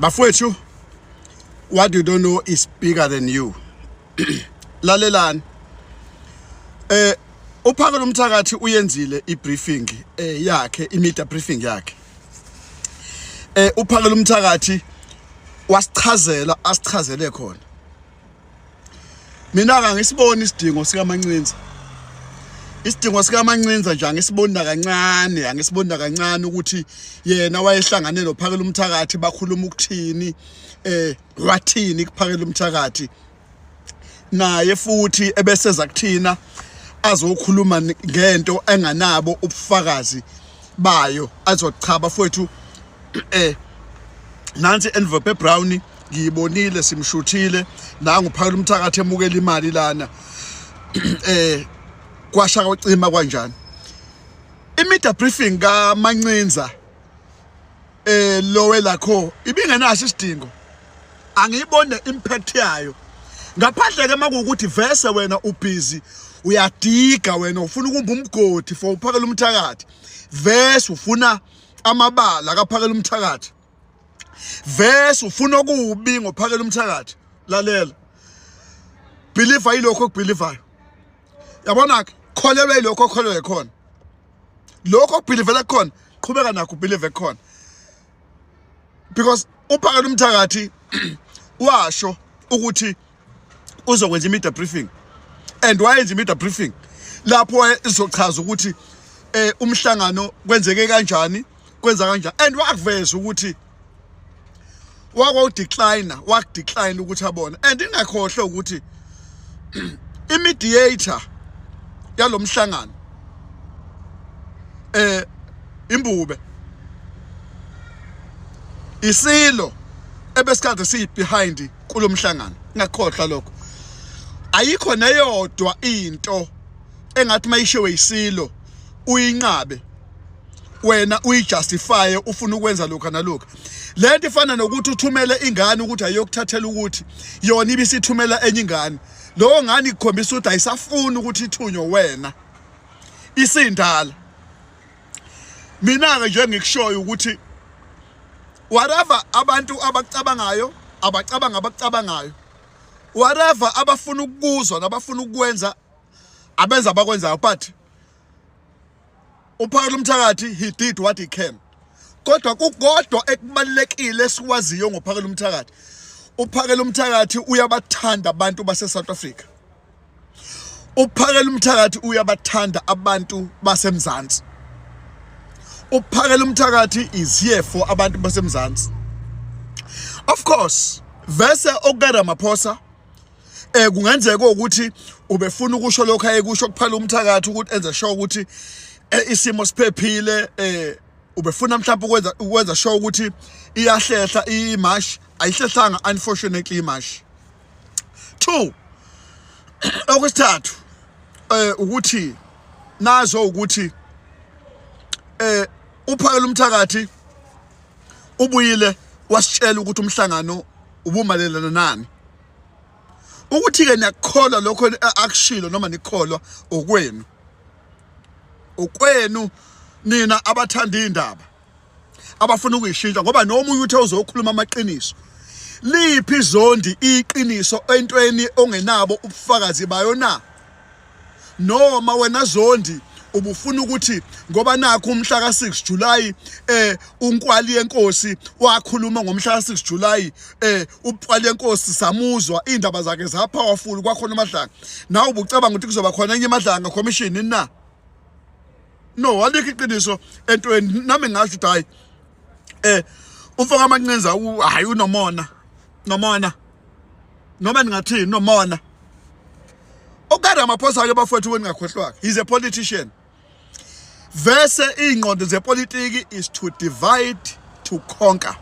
bafowethu what you don't know is bigger than you lalelani eh uphaka lomthakathi uyenzile ibriefing eh yakhe imedia briefing yakhe eh uphaka lomthakathi wasichazela asichazele khona mina ka ngisibona isidingo sikamancinza isidingo sikamancinza nje angisibona kancane angisibona kancane ukuthi yena wayehlangane nophakela umthakathi bakhuluma ukuthini eh wathini kuphakela umthakathi naye futhi ebeseza kuthina azokhuluma ngento enganabo ubufakazi bayo azochaba futhi eh nansi envelope brown ngiyibonile simshuthile nangu phakela umthakathi emukela imali lana eh kwasha kwacima kwanjani imedia briefing ka Mancinza eh lowe lakho ibingenaso isidingo angiyibone impact yayo ngaphandle ke makuwukuthi vese wena ubhizi uyadiga wena ufuna ukumba umgodi for uphakela umthakathi vese ufuna amabala akaphakela umthakathi verse ufuna okubi ngophakela umthakathi lalela believe ayilokho okubelievayo yabona ke kholelwa ilokho okholelwa khona lokho okubelivela khona qhubeka nakho ubelieve khona because uphakela umthakathi washo ukuthi uzokwenza i-media briefing and wayenza i-media briefing lapho izochaza ukuthi eh umhlangano kwenzeke kanjani kwenza kanjani and wakuveza ukuthi wakwawudecline wakudecline ukuthi abone and ingakhohle ukuthi imediator yalomhlangano eh imbube isilo ebesikade siyi behind kulomhlangano ngakhohlwa lokho ayikho neyodwa into engathi mayishiwe isilo uyinqabe wena uyijustify ufuna ukwenza lokho nalokho lento ifana nokuthi uthumele ingane ukuthi ayokuthathela ukuthi yona ibisithumela enye ingane lowo ngane ikukhombisa ukuthi ayisafuni ukuthi ithunywe wena isindala mina ke nje ngikushoyo ukuthi whatever abantu abacabangayo abacabanga abacabangayo whatever abafuna ukuzwa nabafuna ukwenza abenza abakwenzayo but uphawula umthakathi he did what he can kodwa kukodwa ekubalekile sikwaziyo ngophakela umthakathi uphakela umthakathi uyabathanda abantu base South Africa uphakela umthakathi uyabathanda abantu basemzansi uphakela umthakathi is here for abantu basemzansi of course vese okukaramaphosa eh kungenzeka ukuthi ubefuna ukusho lokho ayekusho kuphela umthakathi ukuthi enze sure ukuthi eh, isimo siphephile eh ubefuna mhlawumbe ukwenza ukwenza sure ukuthi iyahlehla imash ayihlehlanga unfortunately imash two okwesithathu eh ukuthi nazo ukuthi eh uphakela umthakathi ubuyile wasitshela ukuthi umhlangano ubumalelana nani ukuthi ke niyakholwa lokho akushilo noma nikholwa okwenu okwenu nina abathanda indaba abafuna ukuyishintsha ngoba noma uye uthe uzokhuluma amaqiniso liphi izondi iqiniso entweni ongenabo ubufakazi bayo na noma wena zondi ubufuna ukuthi ngoba nakho umhla ka6 July eh unkwali yenkosi wakhuluma ngomhla ka6 July eh ubqwali yenkosi samuzwa indaba zakhe za powerful kwakhona amadlanga nawe ubucabanga ukuthi kuzoba khona enye amadlanga commission na no alikho iqiniso entweni nami ngasho ukuthi hayi eh umfoka amancinza hayi unomona nomona noma ningathini nomona okade amaphosa ake bafowethu weningakhohlwaka he's a politician vese iy'ngqondo zepolitiki is to divide to conquer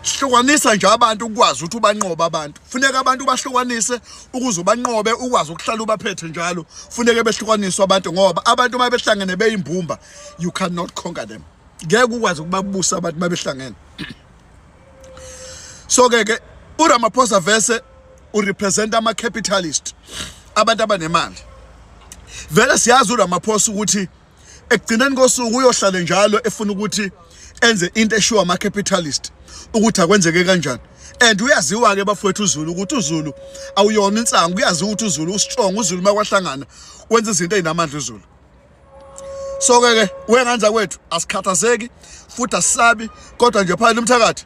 hlukanisa nje abantu ukwazi ukuthi ubanqoba abantu funeka abantu bahlukanise ukuze ubanqobe ukwazi ukuhlala ubaphethe njalo funeke behlukaniswe abantu ngoba abantu uma behlangene beyimbumba you cannot conquer them ngeke ukwazi ukubabusa abantu uma behlangene so ke ke uRamaphosa vese urepresent ama capitalist abantu abanemali vele siyazi uRamaphosa ukuthi ekugcineni kosuku uyohlale njalo efuna ukuthi enze into eshiwo ama-capitalist ukuthi akwenzeke kanjani and uyaziwa-ke bafowethu uzulu ukuthi uzulu awuyona insangu kuyaziwa ukuthi uzulu ustrong uzulu uma kwahlangana wenza izinto ey'namandla uzulu so-ke ke wenganza kwethu asikhathazeki futhi asisabi kodwa nje phakathi umthakathi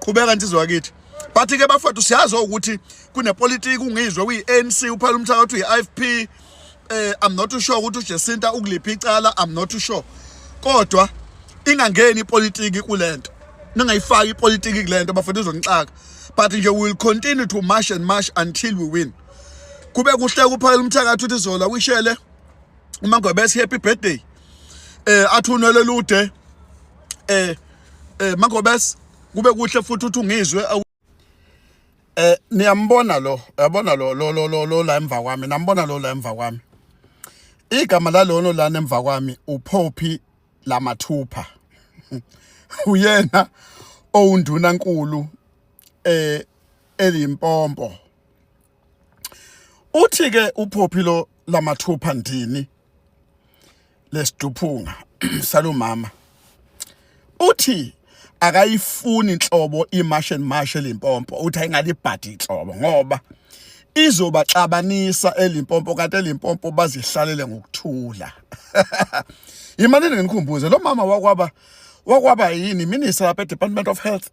qhubeka nsizwa kithi bathi ke bafowethu siyazi ukuthi kunepolitiki ungizwe kuyi-anc uphela umthakathi uyi-ifp eh i'm not too sure ukuthi uJesinta ukuliphi icala i'm not too sure kodwa ingangeni ipolitiki kulento ningayifaki ipolitiki kulento bafethu izonixaka but nje we will continue to march and march until we win kube kuhle kuphakela umthakathi uthi zola wishele uma ngobese happy birthday eh athunwele lude eh eh mangobes kube kuhle futhi uthi ungizwe eh niyambona lo yabona lo lo lo lo la emva kwami nambona lo la emva kwami igama lalono lana emva kwami uPoppy Lamathupha uyena owundunankulu eh elimpompo uthi ke uphophi lo lamathupha ndini lesiduphunga salomama uthi akayifuni inhlobo imash and mash elimpompo uthi ayingalibhadi inhlobo ngoba izobaxabanisa elimpompo kanti elimpompo bazihlalele ngokuthula imali nginikhumbuze lo mama wakwaba wakwaba yini minister lapha eDepartment of Health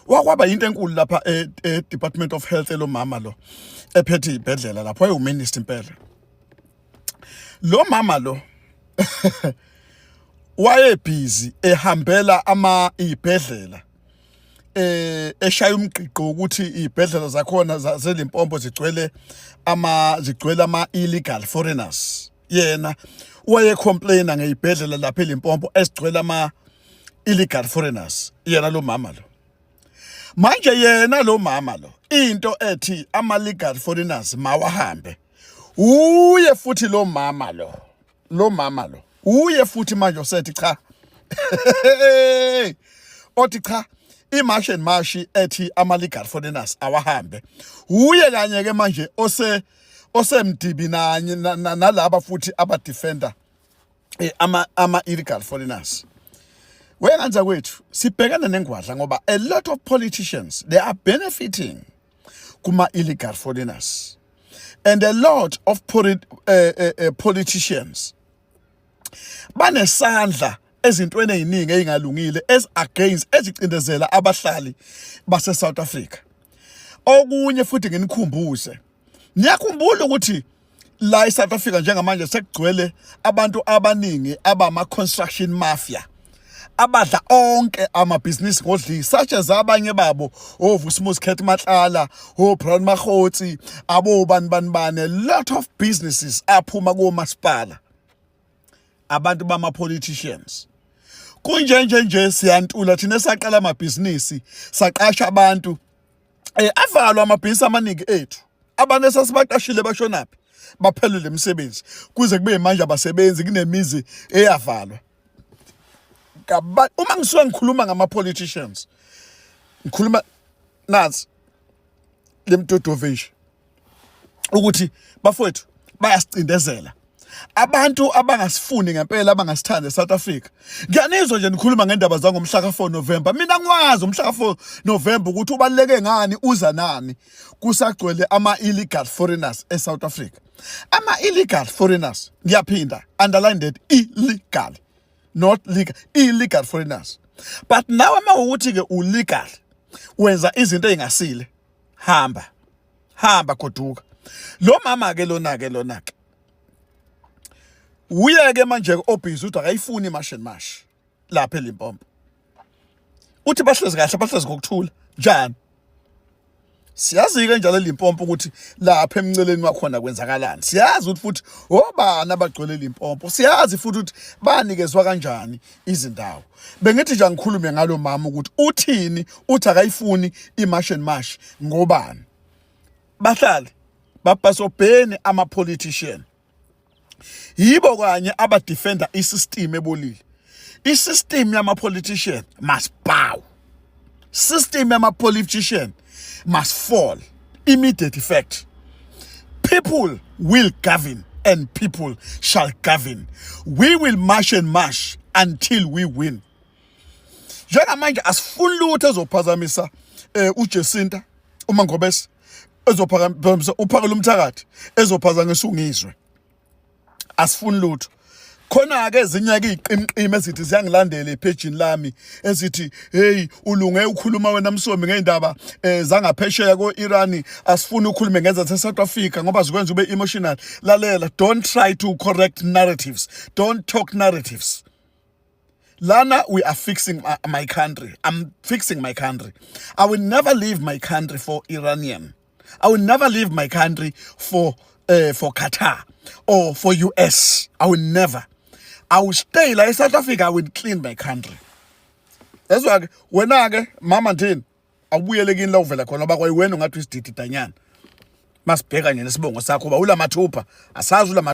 wakwaba yinto enkulu lapha e-department e of health elomama lo ephethe ibhedlela lapho wayewu-minister impela lo mama lo wayebhizi ehambela ama ibhedlela eh eshaya umgqiqo ukuthi ibhedlela zakhona zazelimpompo zigcwele ama zigcwele ama illegal foreigners yena wayecomplaina ngeyibhedlela lapha eLimpopo esigcwele ama illegal foreigners yena lo mama lo manje yena lo mama lo into ethi ama legal foreigners mawahambe uye futhi lo mama lo lo mama lo uye futhi manje osethi cha othi cha imashi and mashi ethi ama-legal foreigners awahambe wuye kanye-ke manje ose osemdibi nanye nalaba futhi aba defender eh, ama ama illegal foreigners Wenganja kwethu sibhekana nengwadla ngoba a lot of politicians they are benefiting kuma illegal foreigners and a lot of uh, uh, uh, politicians banesandla ezintweni eziningi ezingalungile as against ezicindezela abahlali base South Africa okunye futhi nginikhumbuze niyakhumbula ukuthi la eSouth Africa njengamanje sekugcwele abantu abaningi abama construction mafia abadla onke amabhizinisi ngodlisi such as abanye babo oVusimuzi oh, Khethi Matlala oBrown oh, Mahotsi abobani bani bani lot of businesses aphuma komasipala abantu bama politicians kunjenje nje siyantula thina saqala amabhizinisi saqasha abantu eh avalwa amabhizinisi amaningi ethu abantu esasibaqashile bashonaphi baphelele imisebenzi kuze kube manje abasebenzi kunemizi eyavalwa kabantu uma ngisuka ngikhuluma ngama politicians ngikhuluma nazi lemdodovish ukuthi bafowethu bayasicindezela abantu abangasifuni ngempela abangasithandi eSouth Africa ngiyanizwa nje nikhuluma ngendaba zangomhla ka4 November mina ngwazi umhla ka4 November ukuthi ubaleke ngani uza nani kusagcwele ama illegal foreigners eSouth Africa ama illegal foreigners ngiyaphinda underline that illegal not legal illegal foreigners but nawe mawukuthi ke ulegal wenza izinto ezingasile hamba hamba goduka lo mama ke lona ke lona ke uye ke manje obhizi uthi akayifuni imashini mashi lapha elimpompo uthi bahlezi kahle bahlezi ngokuthula njani siyazi-ke njalo elimpompo ukuthi lapha emnceleni wakhona kwenzakalani siyazi ukuthi futhi obani abagcwele limpompo siyazi futhi ukuthi banikezwa kanjani izindawo bengithi nje angikhulume ngalo mama ukuthi uthini uthi akayifuni imash and mash ngobani bahlali bapasobheni ama politician yibo kanye abadefenda isystem ebolile isystem yama politician must bow system yama politician must fall immediate effect people will govern and people shall govern we will march and march until we win njengamanje asifuni lutho ezophazamisa eh uJesinta uma ngobese ezophazamisa uphakela umthakathi ezophazamisa ungizwe asifuni lutho khona-ke ezinye-ke iy'qimqimi ezithi ziyangilandela ephejini lami ezithi heyi ulunge ukhuluma wena msomi ngey'ndaba um eh, zangaphesheya ko-irani asifuni ukhulume ngenza se-south africa ngoba zikwenza ube emotional lalela don't try to correct narratives don't talk narratives Lana, we are fixing my, my country. I'm fixing my country. I will never leave my country for Iranian. I will never leave my country for uh, for Qatar or for US. I will never. I will stay like South Africa. I will clean my country. That's why when wena ke mama ndini awubuyele kini la uvela khona ngoba kwayiwena ungathi isididi danyana. Masibheka nje nesibongo sakho uba ulamathupha asazi ulama